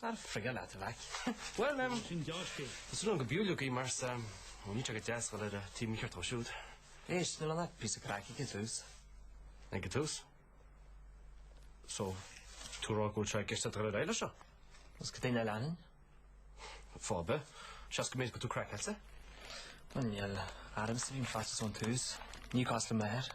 Ar éirigh leat a mhaic. Bhuel em, tá súil agam go mbeidh tú lucky mar níl sé go deas dul ar an taobh mícheart dhó siúd. Éist, níl ann ach píosa craic. Ag an tús. Ag an tús? So, tá tú ag rá go bhfuil sé i gceist leat dul ar aghaidh leis seo? Is tuige nach leanfainn. Fáth ar bith, seans go mbeidh tú craiceáilte. Bhuel, ní ormsa a bhí an faitíos ón tús. Ní cás liom a athar.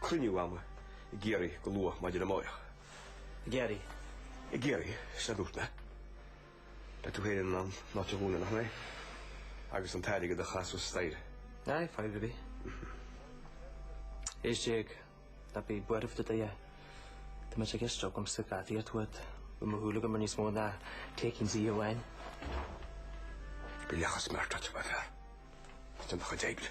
Cruinniú agam i gCiarraí go luath maidin amárach. I gCiarraí? I gCiarraí, sin a dúirt mé. Beidh tú féin in ann an áit a dhúnadh, nach mbeidh? Agus an t-airgead a ghlasáil thuas staighre. Aye, fine with me. Is Jay, ná bí ag buaireamh do Dhaid. Tá muid ag éisteacht agam sa Gaudi atá uait, beidh mo shúil agam ar níos mó ná takings oíche amháin. Bhí leathchos mear tráite, ba fearr. Déan do chuid éigin.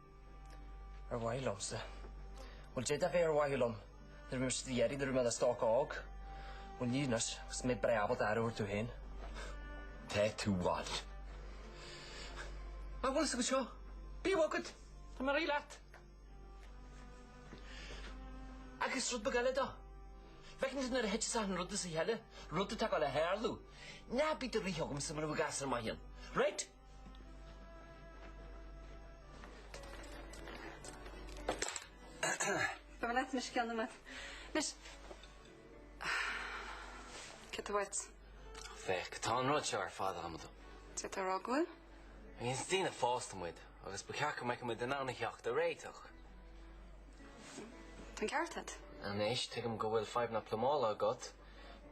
Ar mhaithe liomsa? Bhuel, dé dá mhéad ar mhaithe liom, nuair a bhí mise do d'iarraidh, nuair a bhí mé i mo stócach óg, bhuel, níl anois, agus mé breá ábalta aire a thabhairt dom féin. Beidh tú uait. Mar bhfuil 's anseo. Bíodh agat. Tá mé réidh leat. Agus rud beag eile de. Bhfeiceann tú nuair a thiteas achan rud as a chéile, rud atá ag goil a tharlú, ná bí ag rith chugamsa mar a bheadh gasúr maicín. Right? Féach, tá an rud seo ar fad amaideach. Is daoine fásta muid agus ba cheart go mbeadh muid in ann a theacht ar réiteach. Anois, tuigim go bhfuil fadhbanna plumála agat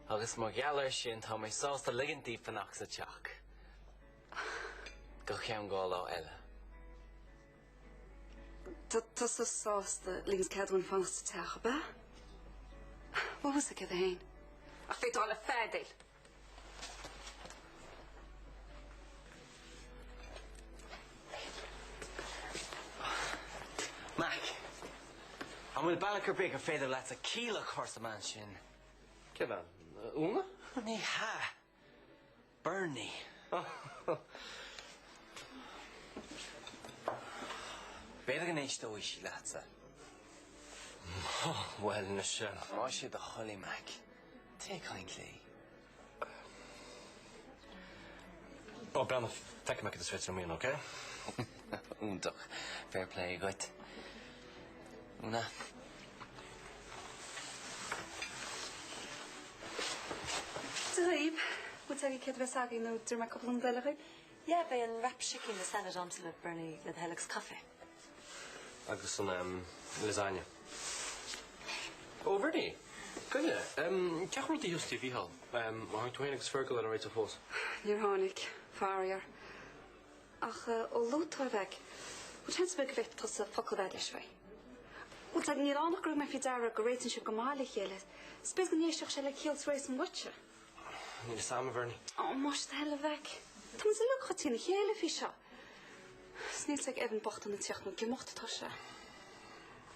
agus mar gheall air sin tá mé sásta ligint daoibh fanacht sa teach. Go ceann dhá lá eile. Tá tusa sásta ligint cead dúinn fanacht sa teach, ab ea? Bhfuil fhios agat céard é fhéin. Á, féadfaidh tú a dhul ag feadaíl. Mack! An bhfuil bealach ar bith gur féidir leatsa ciall a chur sa mbean sin? Cén bhean? Úna? Ní hea. Berni. B'fhéidir go n-éisteoidh sí leatsa. Á bhuel anois. Más é do thoil é Mack, téigh ag caint léi. Ó, breathnaigh, feicfidh mé céard is féidir liom a dhéanamh, ócé? Iontach. Fair play dhuit. Úna. Sa Ghaoth, bhfuil tú ag iarraidh céard a bheas agaibh nó d'iarr mé cúpla nóiméad uaibh? Yeah, beidh an wrap chicken le salad amsa, a Bhernie, le do thoil agus caife. Agus an ehm lasagne. Ó, Bhernie, gabh i leith, ehm cén chaoi bhfuil rudaí thuas tí Mhíchíl, ehm ar tháinig tú féin agus Fergal ar aon réiteach fós. Níor tháinig, faraor. Ach ó luaigh tú é, a Mhack, bhfuil seans ar bith go bhféadfadh tusa focal a bheith a'd leis faoi. Bhfuil 's a'd, níl ann ach gur thug mé faoi deara go réitíonn sibh go maith le chéile, 's b'fhéidir go n-éistfeadh sé le ciall is réasún uaitse. Níl fhios a'm, a Bhernie. Ó, más é do thoil é, a Mhack. Tá muid uilig chomh trína chéile faoi seo. 'S níl 's ag Evan bocht an ag tíocht nó ag imeacht atá sé.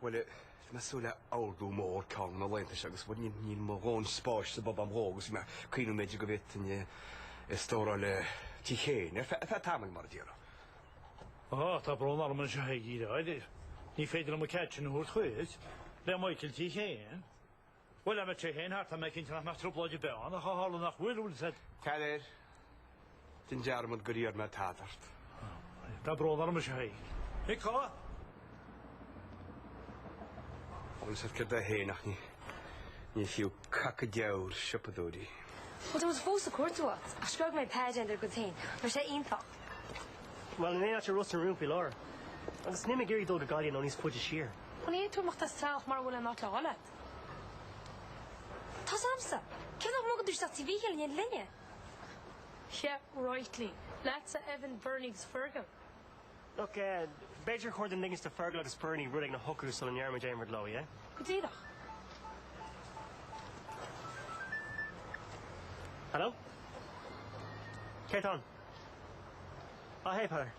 Bhuel, bhí mé ag súil le hordú mór ceann de na laethanta seo agus bhuel, níl mo dhóthain spáis sa bpub am dhó agus bhí mé ag cuimhniú b'fhéidir go bhféadfainn é a stóráil i dtí Keane ar feadh tamaill, mar a déarfá. Á, tá brón orm faoi seo, a Thaidhg. Ní féidir liom an cead sin a thabhairt dhuit. Le Michael tí Keane. Bhuel, tá mé tí Keane thart, tá mé cinnte nach mbeadh trioblóid ar bith ann ach a tharla nach bhfuil, bhfuil 's a'd. Tar air déan dearmad gur iarr mé tada ort. Tá brón orm, faoi seo, a Thaidhg. Ag codladh? Bhuel, is oird é féin ach ní fiú cac an diabhail siopadóirí. Bhuel, tá muid fós ag cuartú áit. Ach screog mé pé déan dár gcuid féin. Tá sé iontach. Bhuel, níl tada i Ros na Rún faoi láthair. Agus níl mé ag iarraidh dul go Gaillimh nó níos faide siar. Bhuel, ní fhéadfaidh tú imeacht as teach mura bhfuil aon áit le dhul a'd. Tá 's amsa! Tuige nach mbogann tusa isteach tí Mhíchíl in éindí linne? Yeah, right. Le, leatsa, Evan Bernie agus Fergal. Look, b'fhéidir gur cheart dúinn ligint do Fergal agus Bernie rud éigin a shocrú sula ndéarfaidh muid aon rud leo, yeah? Go díreach. Hello? Cé atá ann? Á hey, Peadar.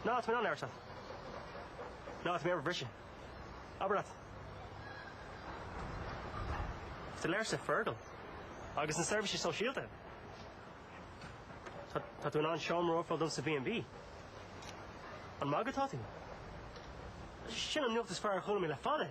No, tá mé in ann airsean. No, tá mé ar mo bhriseadh. Abair leat. Sa léirse, Fergal. Agus na seirbhísí sóisialta. Tá, tá tú in ann seomra a fháil dom sa B&B. Ag magadh atá tú. Sin an nuacht is fearr a chuala mé le fada!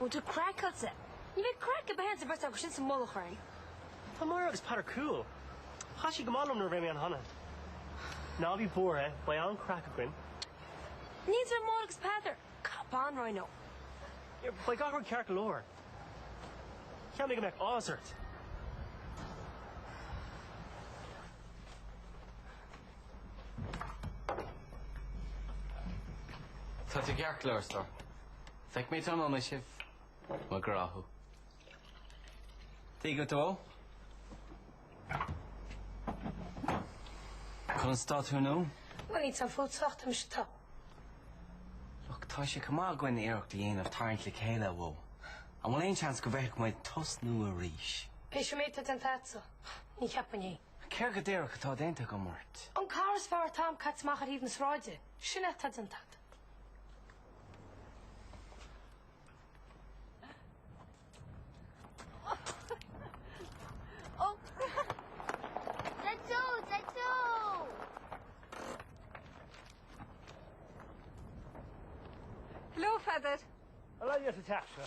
Ó tá craic agatsa. Ní bheidh craic ar bith ann is an bheirt acu sin sa mullach orainn. Tá Máire agus Peadar cool. Chaith siad go maith liom nuair a bhí mé ann cheana. Ná bí buartha, beidh an-chraic againn. Níl fhios ag Máire agus Peadar cad ba an roinn leo. Beidh gach rud ceart go leor. Cheap mé go mbeadh áthas ort. Tá tú ceart go leor, a stór. Feicfidh mé tráthnóna sibh. Mo ghrá thú. Dia dhuit a Mho. Conas tá tú Mo? Mo ní tá fút sách mise tá. Look, tá sé chomh maith againn iarracht a dhéanamh tarraingt le chéile a Mho. An bhfuil aon seans go bhféadfadh muid tosnú arís? Théis an méid atá déanta agatsa, ní cheapfainn é. Céard go díreach atá déanta agam ort? An cara is fearr atá agam caite amach ar thaobh na sráide. Sin é atá déanta agat. Hello, a Pheadair. An raibh thú sa teach seo?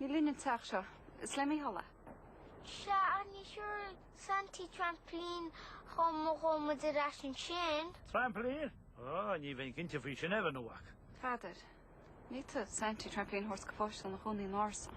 Ní linn an teach seo. Is le Mícheál é. Sea, ach ní thabharfaidh Santaí trampilín chugam má ghabhann muid ar ais ansin. Trampilín? Á, ní bheinn cinnte faoi sin Evan a mhac. Peadar, ní fhéadfadh Santaí trampilín a thabhairt do pháiste ina chónaí in árasán.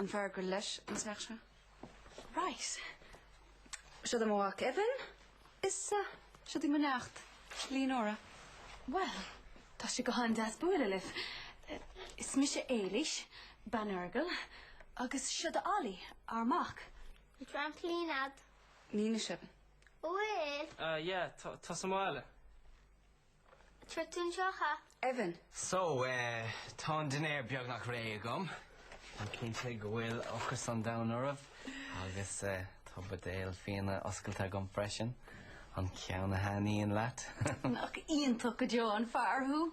An fear gur leis an teach seo? Right. Siod é mo mhac Evan is siod í mo neacht Leonora. Bhuel, tá sé go han-deas bualadh libh. Is mise Éilís, bean Fheargail, agus siod é Ollie, ár mac. An bhfuil trampolín agat? Ní anois, Evan. Bhuel! Ah yeah, tá, tá sa mbaile. Tritúin seo cha. Evan. So, eh, tá an dinnéar beagnach réidh agam. Táim cinnte go bhfuil ocras an domhain oraibh agus, eh, tá buidéal fíona oscailte agam freisin. An ceann a thaitníonn leat? Nach iontach go deo an fear thú!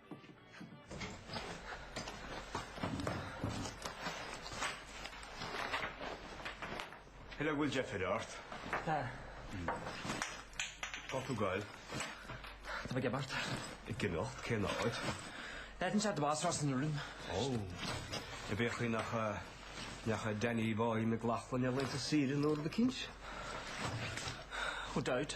Hello, an bhfuil deifir ort. Tá. Cá bhfuil tú ag goil. Tá mé ag imeacht. Ag imeacht? Cén áit? D'fhéadfainn sé do bhás Ros na Rún. Ó. Ar bith a chroí nach nach ea Danny Boy McLaughlin ar laethanta saoire nó rud eicínt? Who doubt.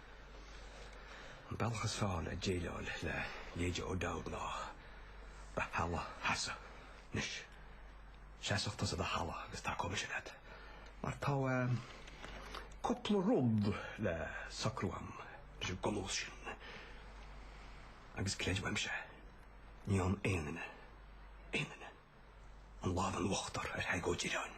An bealach is fearr le déileáil le leithéidí O'Dowd ná do thalamh a sheasamh. Anois, seasadh tusa do thalamh agus tacóidh mise leat, mar tá cúpla rud le socrú agam leis an ngamal sin. Agus creid uaimse, ní fhaigheann aon duine, aon duine, an lámh in uachtar ar Thadhg Ó Direáin.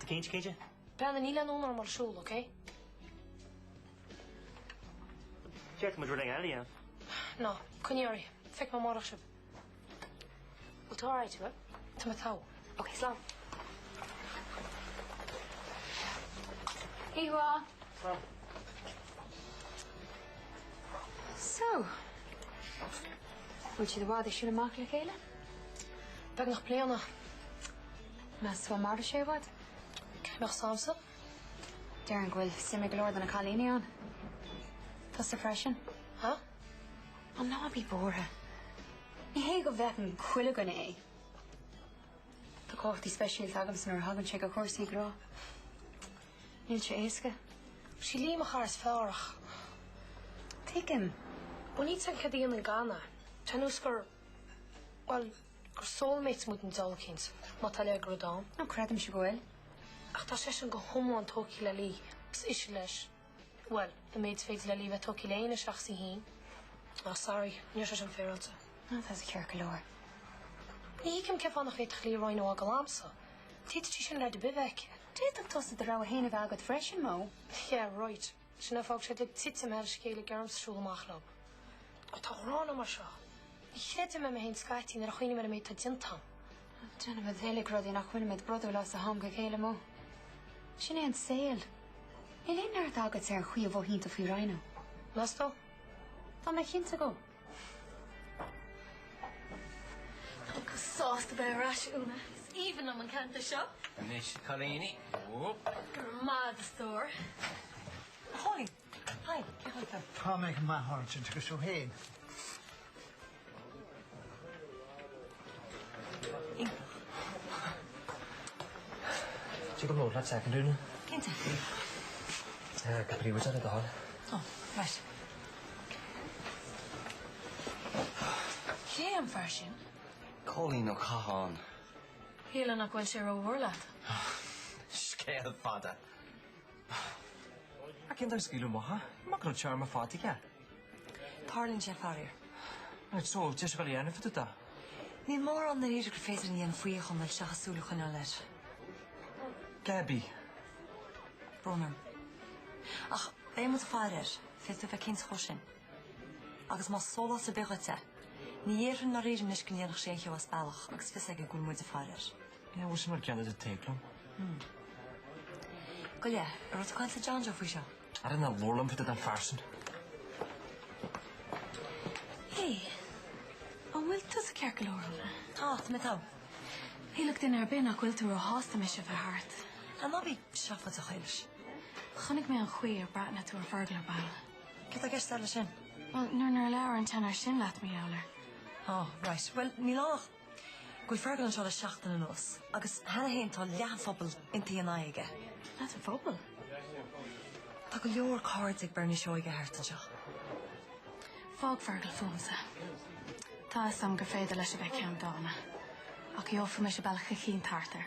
Tá tú cinnte? Brennan, níl aon fhonn orm a ghoil ag siúl, ok? Féadfaidh muid rud éigin eile a dhéanamh. No, coinnigí oraibh. Feicfidh mé amárach sibh. Bhfuil tú alright, Sibh? Tá mé togha. Ok, slán. Ihuaa. Slán. So, bhfuil siad i bhfad ag siúl amach le chéile? Beagnach bliain. Meas tú go mairfidh sé i bhfad? Cén chaoi a mbeadh a fhios agamsa? Déarfainn go bhfuil suim ag go leor de na cailíní ann. Tusa freisin. Ha? Ó ná bí buartha. Ní hé go bhfeiceann chuile dhuine é. Tá cumhachtaí speisialta agamsa nuair a thagann sé go cúrsaí grá. Níl sé éasca. Sí Lee mo chara is fearr ach. Tuigim. Bunaítear an Ceadaoin in Ghana, tá a fhios agam gur, bhuel, Gur soulmates muid an Dolkins, má tá a leithéid de rud ann. Nó creidimse go bhfuil. Ach tá seisean go hiomlán tógtha le Lee. Is ise leis. Bhuel, an méid is féidir le Lee bheith tógtha le éinne seachas í fhéin. Ah, sorry, ní raibh sé sin féaráilte. No, tá sé ceart go leor. Ní thuigim cén fáth nach bhféadfadh Lee Rhino a fhágáil agamsa. D'fhéadfadh sí sin leaid ar bith a bheith aici. D'fhéadfadh tusa do rogha fhéin a bheith agat freisin, Mo. Yeah, right. Sin é an fáth go bhfuil siad uilig ag titim ar a chéile ag iarraidh orm siúl amach leob. Ó tá an ghráin agam air seo. Ní chreidim mé mé féin scaití nuair a chuimhním ar an méid atá déanta agam. Déanaimid uilig rudaí nach mbíonn muid bródúil as ó am go chéile, Mo. Sin é an saol. Níl aon neart agat ar an chaoi a mhothaíonn tú faoi Rhino. Meas tú? Tá mé cinnte dhó. Tá tú sásta bheith ar ais, Úna. Is aoibhinn liom an ceantar seo. Anois, cailíní. Go raibh maith agat, a stór. Holly, hi, cén chaoi a bhfuil tú? Tá mé go maith, agus tú héin. Tig liom labhairt leat soicind nó dhó? Cinnte. Eh, go príobháideach le do thoil. Oh, right. Cé an fear sin? Cóilín Ó Catháin. Shílfeá nach bhfuil sé ró mhór leat. Scéal fada. Ach cén fáth ar scaoileadh amach é? Nach raibh téarma fada aige? Tarlaíonn sé faraor. Right so, deir sé go léir na fite do. Níl mórán i ndáiríre gur féidir linn a dhéanamh faoi go fóill seachas súil a choinneáil air. Gabby. Brón orm. Ach beidh muid ag faire air, féadfaidh tú a bheith cinnte dhó sin. Agus más sólás ar bith dhuit é, ní dhéarfainn i ndáiríre anois go ndéanfadh sé aon cheo as bealach agus fios aige go bhfuil muide ag faire air. Ná bhfuil sé mar gheall ar do théacs liom. Gabh i leith. An raibh tú ag caint le John Joe faoi seo? I don't know more limited than phearsan. Hé, an bhfuil tusa ceart go leor Úna? Tá, tá mé togha. Shílfeadh duine ar bith nach bhfuil tú ró shásta mise a bheith thart. An mba í seo fo do Ghaeilge? Chonaic mé an chaoi ar bhreathnaigh tú ar Fergal ar ball. Cad atá i gceist agat leis sin? Bhuel, nuair nár labhair an tseanóir sin leat, Meall air. Oh, right. Bhuel, níl ann ach. Bhfuil Fergal anseo le seachtain anuas agus cheana féin tá leath an phobail iontaithe ina aghaidh aige. Leath an phobail? Tá go leor cairde ag Bernie Seoige thart anseo. Fág Fergal fúmsa. Tá 'fhios a'm gur féidir leis a bheith ceanndána. Ach gheobhaidh mise bealach eicínt thart air.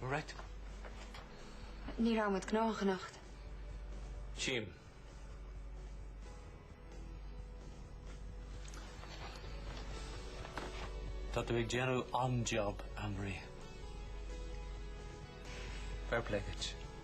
Right. Ní raibh muid gnóthach anocht. Jim. Tá tú ag déanú an-job, Amri. Fair play dhuit,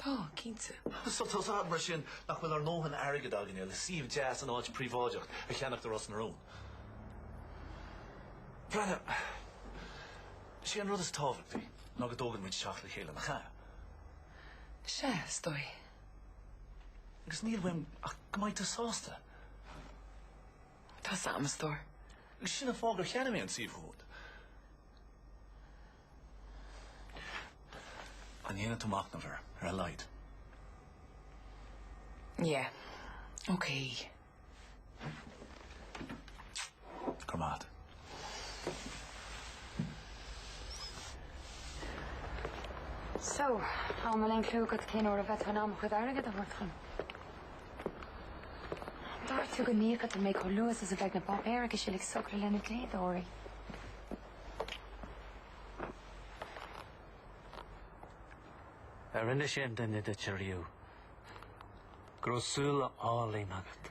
Tá, cinnte. So tá a fhios agat mar sin nach bhfuil ár ndóthain airgid againne le suíomh deas in áit príobháideach a cheannacht i Ros na Rún. Breathnaigh, sé an rud is tábhachtaí ná go dtógann muid teach le chéile, nach ea? Sea, is dóigh. Agus níl uaim ach go mbeidh tú sásta. Tá 'fhios a'm, a stór. Agus sin an fáth gur cheannaigh mé an suíomh úd. An ndéanfaidh tú machnamh air ar a laghad? Yeah. Okay. Go raibh maith agat. So, an bhfuil aon clue agat cén uair a bheidh tú in ann mo chuid airgid a thabhairt dhom? Ar dhúirt tú go n-íocfadh tú mé chomh luath is a bheadh na páipéir a'd uilig socraithe leis na dlíodóirí? Ar inis aon duine duit ariamh go raibh súile áille agat?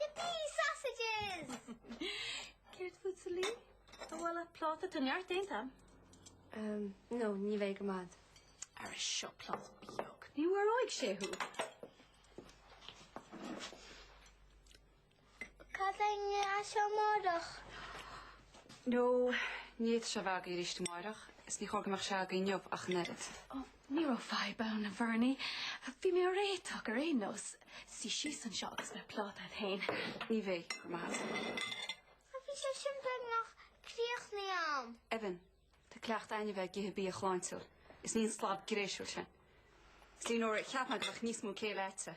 Yippee sausages! Céard fútsa Lee? An bhfuil tú ag iarraidh pláta tá neart déanta? Ehm, no, ní bheidh go raibh maith agat. Ara seo pláta beag. Ní mharóidh sé thú. Cad é ngreadh seo amárach? No, ní fhéadfadh sé a bheith agaí arís amárach, is ní chóir go mbeadh sé agaí inniu ach an oiread. Ó, ní raibh fadhb ann, a Bhernie. Bhí mé á réiteach ar aon nós. Suigh síos anseo agus beidh plátá a'd féin. Ní bheidh, go raibh maith agat. Bhí sé sin beagnach críochnaithe a'm. Evan, tá cleachtadh a'inne a bheith ag ithe bia sláintiúil. Is ní an slab gréisiúil sin. Is Lee, nuair a cheap mé go mbeadh níos mó céille aici.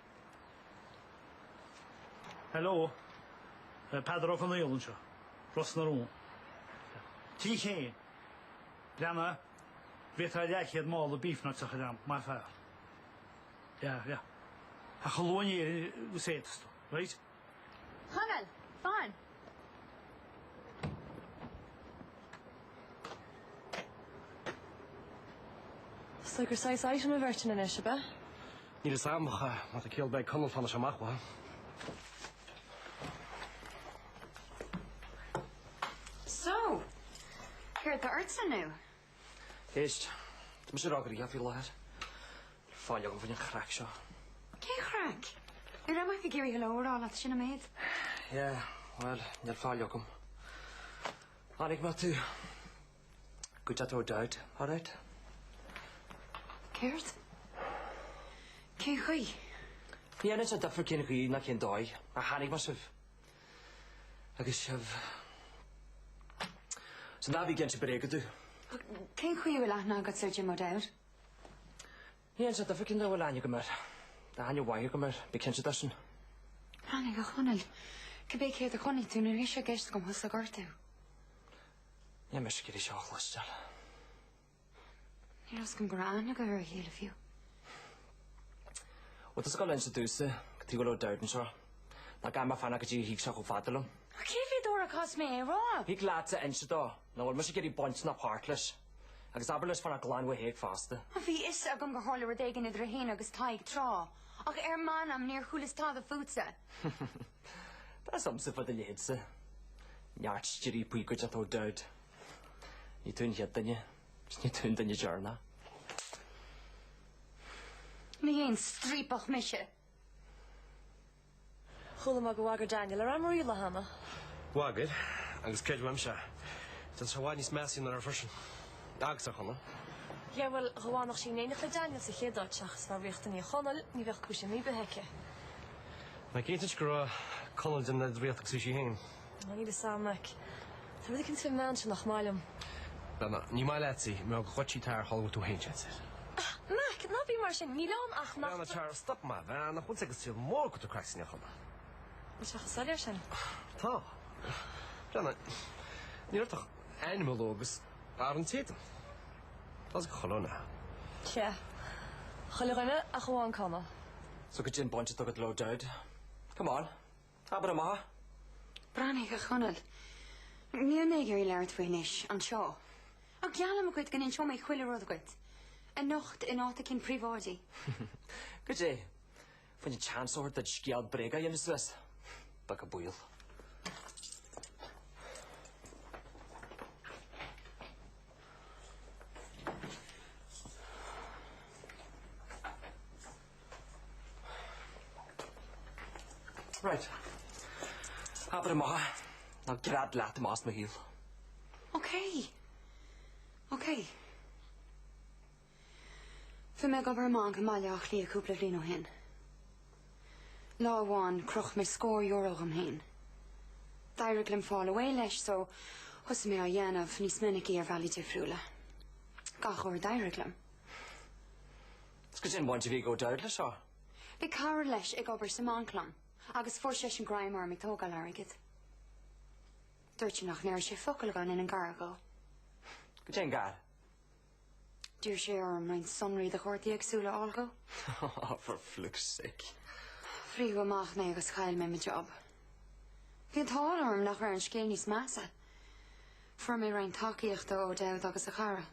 Hello. Peadar Ó Conaola anseo. Ros na Rún. Tí Chéin. Breanna. Bhféadfá leathchéad mála beef nuts a chur agam, maith an fear. Yeah, yeah. Ach a Chonaill, just éist, right? Chonaill, fan! So gur saghas item a bheirt ina anois, a bith? Níl is amcha má a céal beidh Conall fanna amach wa. So, céir tá ort san nú? Éist, tá mise róghnóthach faoi láthair, níl faill agam fá choinne an chraic seo. Cén chraic? Ní raibh mé ach ag iarraidh hello a rá leat, sin an méid. Yeah, bhuel, níl faill agam. Chonaic mé tú i gcuideachta O'Dowd, alright? Céard? Cén chaoi? Ní dhéanann sé difear cén chaoi ná cén dóigh a chonaic mé sibh. Agus sibh. So ná bí ag inse bréaga domh. Cén chaoi a bhfuil aithne agatsa ar Jim O'Dowd? Ní dhéanann sé difear cén dóigh a bhfuil aithne agam air. Tá aithne mhaith agam air, bí cinnte de sin. Fainic, a Chonaill. Cibé céard a chonaic tú ní raibh sé i gceist agam thusa a ghortú. Níl mise ag iarraidh seo a chloisteáil. Ní raibh a fhios a'm go raibh aithne agaibh ar a chéile fiú. Bhuel, tig leat inse domhsa cad tuige a bhfuil O'Dowd anseo. Nó an gcaithfidh mé fanacht go dtí go dtig sé chomh fada liom. Ach cé mhéad uair a chaithfeas mé é a rá? Thig leatsa inse dó nach bhfuil mise ag iarraidh baint ná páirt leis, agus abair leis fanacht glan uaidh Thadhg fosta. Á, bhí a fhios agam gur tharla rud éigin idir é féin agus Tadhg tráth, ach ar m'anam níor chualas tada fútsa. Tá's agamsa fá do leithéidse. Neart striapaí i gcuideachta O'Dowd. Ní tú an chéad duine is ní tú an duine deireanach. Ní haon striapach mise. Chuala mé gur bhagair Daniel ar Ann Marie an lá cheana. Bhagair, agus creid uaimse é. Tá sé i bhfad níos measa ná raibh freisin. Agus ar Chonall. Sea, bhuel, dá bhfanfadh sí in éineacht le Daniel sa chéad áit seachas a bheith ag ritheacht i ndiaidh Chonaill, ní bheadh cúis imní ar bith aici. Ná ceist is go raibh Conall ag déanamh an oiread ritheacht is a bhí sí féin. Níl 'fhios a'm, Maic. Tá rud éicint faoin mbean seo nach maith liom. Ná, ná, ní maith leat í. Mbeadh a ghoití tár tháinig tú féin, seit ar. Ah, Maic, ná bí mar sin. Níl ann ach nach. Bhean tár stop maith, bhean a chonsaigh ag saol mór go depressing a choda. Bhfuil sé chomh soiléir sin? Tá. Brenna, ní raibh ach ainm a lua agus barr an t-éadan. Tá 'fhios ag chuile dhuine. Sea. Chuile dhuine ach amháin Conall. So goidé an bhaint atá agat le O'Dowd. Come on. Abair amach! Breathnaigh, a Chonaill. Níl mé ag iarraidh labhairt faoi anois, anseo. Ach geallaim dhuit go n-inseoidh mé chuile rud dhuit. Anocht in áit éicint príobháideach. Goidé? Fá choinne seans a thabhairt duit scéal bréige a dhéanamh suas. Beag an baol. Right. Abair amach é nó gread leat amach as mo shaol. Ok. Ok. Bhí mé ag obair i mbanc i mBaile Átha Cliath cúpla bliain ó shin. Lá amháin croch mé scór euro dhom féin. D'éirigh liom fáil away leis so thosaigh mé á dhéanamh níos minicí ar bhealaí difriúla. Gach uair a d'éirigh liom. 'S goidé an bhaint a bhí ag O'Dowd leis seo. Bhí cara leis ag obair sa mbanc liom agus fuair seisean greim orm ag tógáil airgid. Dúirt sé nach ndéarfadh sé focal dhá ndéanfainn gar dhó. Goidé an gar. D'iarr sé orm roinnt sonraí do chártaí éagsúla a fháil dhó. Oh, for fluke's sake. Frítheadh amach mé agus chaill mé mo job. Bhí an t-ádh orm nach raibh an scéal níos measa. Fuair mé roinnt tacaíocht ó O'Dowd agus a chara.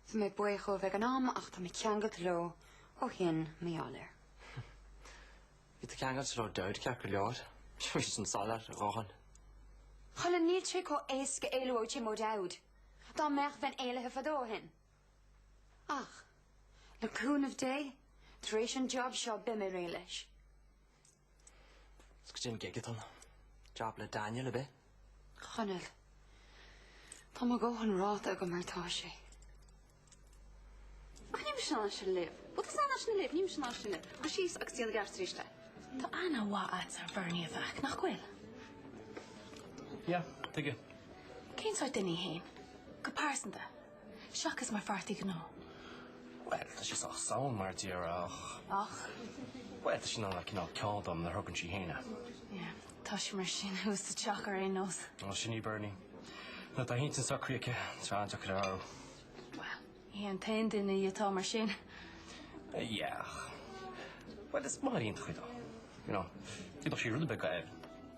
Bhí mé buíoch dhóibh ag an am ach tá mé ceangailte leo ó shin mar gheall air. Bhí tú ceangailte le O'Dowd ceart go leor. Bhí sé sin soiléir a dhóthain. Chonaill, níl sé chomh éasca éalú ó Jim O'Dowd dá mbeadh bheinn éalaithe fadó ó shin. Ach, le cúnamh Dé, tar éis an job seo beidh mé réidh leis. Is goidé an gig atá ann. Jab le Daniel ar bith. Chonaill. Tá mo dhóthain ráite agam mar atá sé. Ach ní miste ná sin libh. Bhuel tá san sin libh, ní miste ná sin libh. Caith síos agus déan gearr tríste. Tá aithne mhaith a'tsa ar Bernie, a mhac, nach bhfuil? Yeah, tuige. Cén sórt duine í fhéin? Go pearsanta. Seachas mar pháirtí gnó. Bhuel, tá sí sách sound, mar a déarfá, ach. Ach? Bhuel, tá sí in ann a bheith cineál ceanndána nuair a thograíonn sí féin é. Yeah, tá sí mar sin thuas sa teach ar aon nós. Ó, sin í Bernie. Nuair atá a hintinn socraithe aici, tá an-deacair a athrú. Bhuel, ní hí an t-aon duine í atá mar sin. Yeah, ach. Bhuel, is maith ar aon tacaí dó. You know, d'fhéadfadh sí rud ar bith go.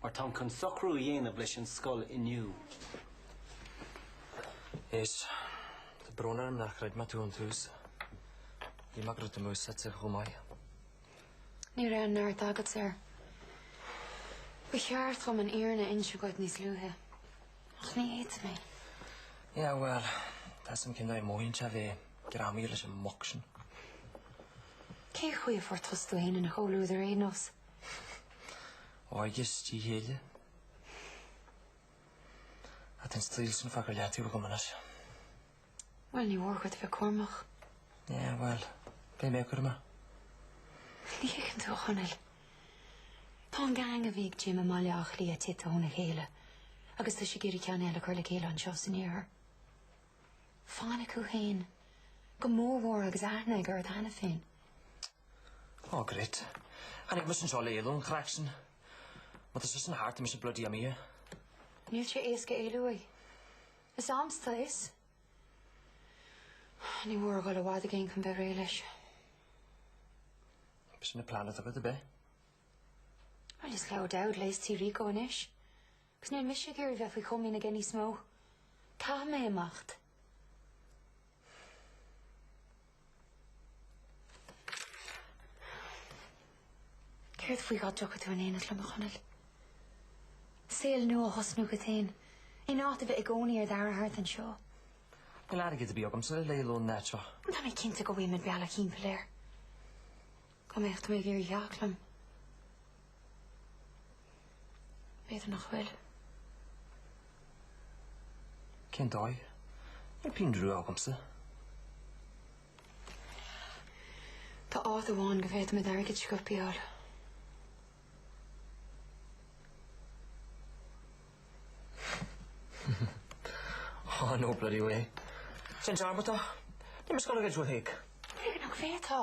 mar táim chun socrú a dhéanamh leis an scoil inniu. Is tá brón orm nár chreid mé thú ón tús. Bhí m'eagrú taobh amuigh suite chomh maith. Ní raibh aon neart agat air. Ba cheart dhom an fhírinne a inse dhuit níos luaithe. Ach níor fhéad mé. Yeah, bhuel, tá a fhios agam cén dóigh a mothaíonn sé bheith greamaithe leis an mboc sin. Cé chaoi a fuair tusa tú féin ina chomhluadar ar aon nós? Óige is díth céille. Ach tá an saol sin fágtha ar leataobh agam anois. Bhuel, ní mór dhuit a bheith cúramach. Yeah, bhuel, beidh mé cúramach. Ní thuigeann tú, a Chonaill. Tá an gang a bhí ag Jim i mBaile Átha Cliath tite óna chéile agus tá siad ag iarraidh ceann eile a chur le chéile anseo san iarthar. Fainic thú fhéin. Go mór mhór agus aithne aige ort cheana féin. Ó great. Tháinig mise anseo le éalú ón chraic sin. Má tá sé sin thart tá mise bloody imithe. Níl sé éasca éalú uaidh. Is agamsa atá a fhios. Ní mór a dhul i bhfad i gcéin chun bheith réidh leis. B'shin é an plean atá agat, ab ea. Well is le O'Dowd léas Tí Rico anois. Agus níl mise ag iarraidh a bheith faoi chomaoin aige níos mó. Caithfidh mé imeacht. Céard faoi dhá dtiocfadh tú in éineacht liom, a Chonaill? Saol nua a thosnú dhuit féin, in áit a bheith i gcónaí ar d'aire thart anseo. Níl airgead ar bith agamsa le éalú ón áit seo. Tá mé cinnte go bhfaighidh muid bealach timpeall air. Cá mbeadh tú ag iarraidh theacht liom? B'fhéidir nach bhfuil. Cén dóigh? Níl pingin rua agamsa. Tá áit amháin go bhféadfaimid airgead sciobtha a fháil. Aw no bloody way. Déan dearmad de. Níl mé ag goil ag goid ó Thadhg. B'fhéidir nach bhféadfá.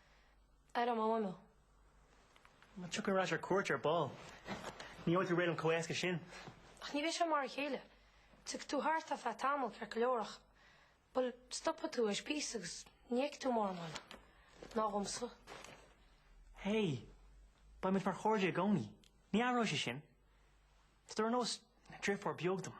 Ar an mhóimeó. Má tiocfaidh ar ais ar cuairt ar ball, ní bhfaighidh tú réidh liom chomh héasca sin. Ach ní bheidh sé mar a chéile. Tiocfaidh tú thart ar feadh tamaill ceart go leor ach, bhuel, stopfaidh tú tar éis píosa agus ní fheicfidh tú mórán eile. Ná dhomsa. Hé, beidh muid mar chairde i gcónaí. Ní athróidh sé sin. Is tú ar nós driofúr beag dom.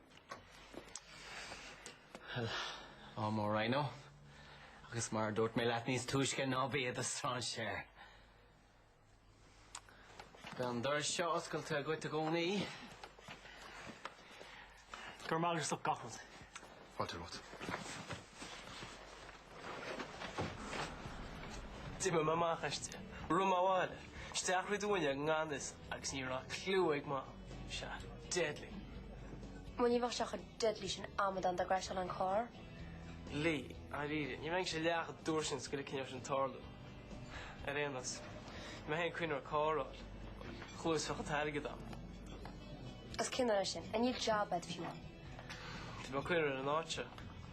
Well, ádh mór, Rhino, agus mar a dúirt mé leat níos túisce ná bí i do strainséir. Beidh an doras seo oscailte dhuit i gcónaí. Go raibh maith agat as ucht gach rud. Fáilte romhat. D'imigh mé amach aisti, rith mé abhaile, isteach thríd an fhuinneog i ngan fhios agus ní raibh cliú ag Mam. Sea, deadly. Bhuel, ní bheadh sé chomh deadly sin amadán dá gcrashálfadh an carr. Lee, Dáiríre, ní bheinnse leath chomh dúr sin is go ligfinn leis sin tarlú. Ar aon nós, mé féin cruinn ar cóireáil, chluasfadh an t-airgead ann. Is cinneadh é sin. I need job, Ed, if you want. Tá mé cruinn ar an áit seo.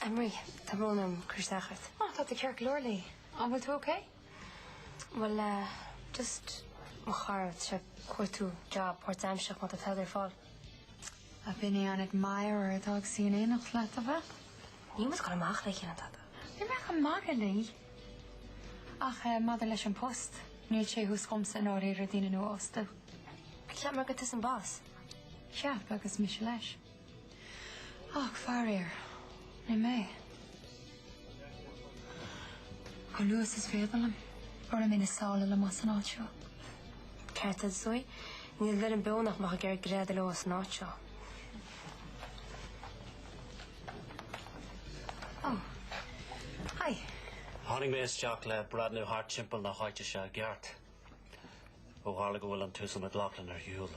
Anne-Marie, tá brón orm cur isteach ort. Ah, tá tú ceart go leor, Lee. An bhfuil tú ok? Bhuel eh, just mo chara, tá sé ag cuartú job páirtaimsearach má tá tada ar fáil. Ab in é an admirer atá ag suí in éineacht leat, ab ea? Níl muid ag dul amach le chéile ná tada. Ní raibh mé ach ag magadh, Lee. Ach eh, maidir leis an post, níl sé thuas chugamsa i ndáiríre daoine nua a fhostú. Cheap mé gur tusa an boss. Cheap agus mise leis. Ach faraor, ní mé. Chomh luath is is féidir liom, tabharfaidh mé na sála liom as an áit seo. Ceart agat, Zoe, níl éinne beo nach mbeadh ag iarraidh greadadh leo as an áit seo. Ó, haigh. Tháinig mé isteach le breathnú thart timpeall na háite seo i gceart ó tharla go bhfuil an tUasal McLaughlin ar shiúl.